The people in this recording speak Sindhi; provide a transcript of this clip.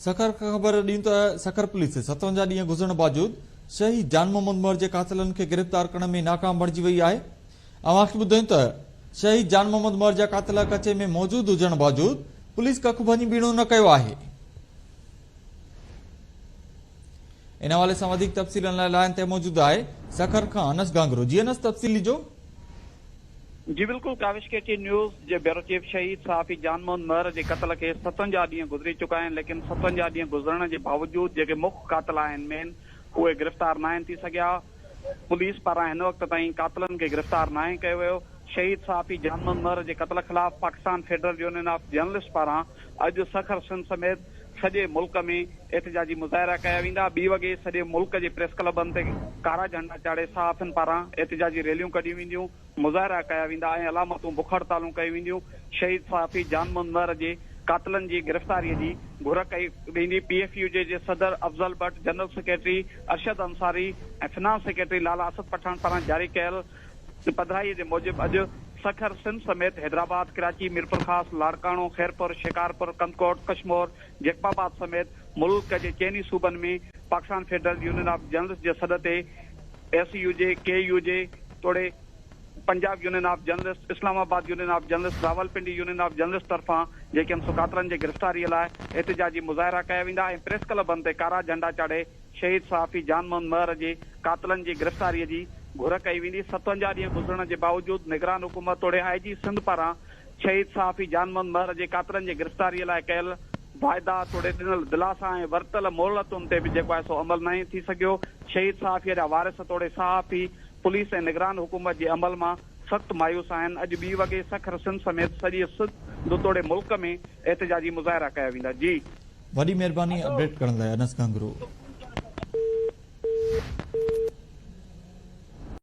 سکر کان خبر ڏيون ته سکر پوليس ستونجا ڏينهن گذرڻ باجود شهيد جان محمد مهر جي قاتلن کي گرفتار ڪرڻ ۾ ناڪام بڻجي وئي آهي اوهان کي ٻڌايون ته شهيد جان محمد مهر جا قاتل ڪچي ۾ موجود هجڻ باجود پوليس ڪک ڀڃي ٻيڻو نه ڪيو آهي ان حوالي سان وڌيڪ تفصيلن لاء لائن تي موجود آهي سکر کان انس گانگرو جي انس تفصيل ڏجو جي بلڪل ڪاوش ڪي ٽي نيوز جي بيورو چيف شهيد صحافي جان موهن مهر جي قتل کي ستونجاهه ڏينهن گذري چڪا آهن ليڪن ستونجاهه ڏينهن گذرڻ جي باوجود جيڪي مک قاتل آهن مين اهي گرفتار ناهن ٿي سگهيا پوليس پاران هن وقت تائين قاتلن کي گرفتار ناهي ڪيو ويو شهيد صحافي جان موهن مهر جي قتل خلاف Pakistan federal union of journalist پاران اڄ سکر سنڌ سميت سڄي ملڪ ۾ احتجاجي مظاهرا ڪيا ويندا، ٻي وڳي سڄي ملڪ جي پريس ڪلبن تي ڪارا جهنڊا چاڙهي صحافين پاران احتجاجي ريليون ڪڍيون وينديون، مظاهرا ڪيا ويندا ۽ علامتون بک هڙتالون ڪيون وينديون، شهيد صحافي جان منور جي قاتلن جي گرفتاري جي گهر ڪئي ويندي، پي ايف يو جي صدر Afzal Butt, general secretary Arshad Ansari ۽ finance secretary Lala Asad Pathan پاران جاري ڪيل پڌرائيء جي موجب اڄ سکر سنڌ سميت حيدرآباد، ڪراچي، ميرپورخاص، لاڙڪاڻو، خيرپور، شڪارپور، ڪنڌڪوٽ، ڪشمور، جيڪب آباد سميت ملڪ جي چئن ئي صوبن ۾ Pakistan federal union of journalists جي سڏ تي S U J, K U J توڙي Punjab union of journalists, Islamabad union of journalists, Rawalpindi union of journalists طرفان جيڪي ايم سو قاتلن جي گرفتاريء لاء احتجاجي مظاهرا ڪيا ويندا ۽ پريس ڪلبن تي ڪارا جهنڊا چاڙهي شهيد صحافي جان محمد مهر جي قاتلن جي گرفتاري جي گهر ڪئي ويندي، ستونجاهه ڏينهن گذرڻ جي باوجود نگران حڪومت توڙي آء جي سنڌ پاران شهيد صحافي جان محمد مهر جي قاتلن جي گرفتاري لاء ڪيل واعدا توڙي ڏنل دلاسا ۽ ورتل مهلتن تي به جيڪو آهي سو عمل ناهي ٿي سگهيو، شهيد صحافي جا وارث توڙي صحافي پوليس ۽ نگران حڪومت جي عمل مان سخت مايوس آهن، اڄ ٻي وڳي سکر سنڌ سميت سڄي سنڌ توڙي ملڪ ۾ احتجاجي مظاهرا ڪيا ويندا. جي. وڏي مهرباني اپڊيٽ ڪرڻ لاء انس گهنگرو.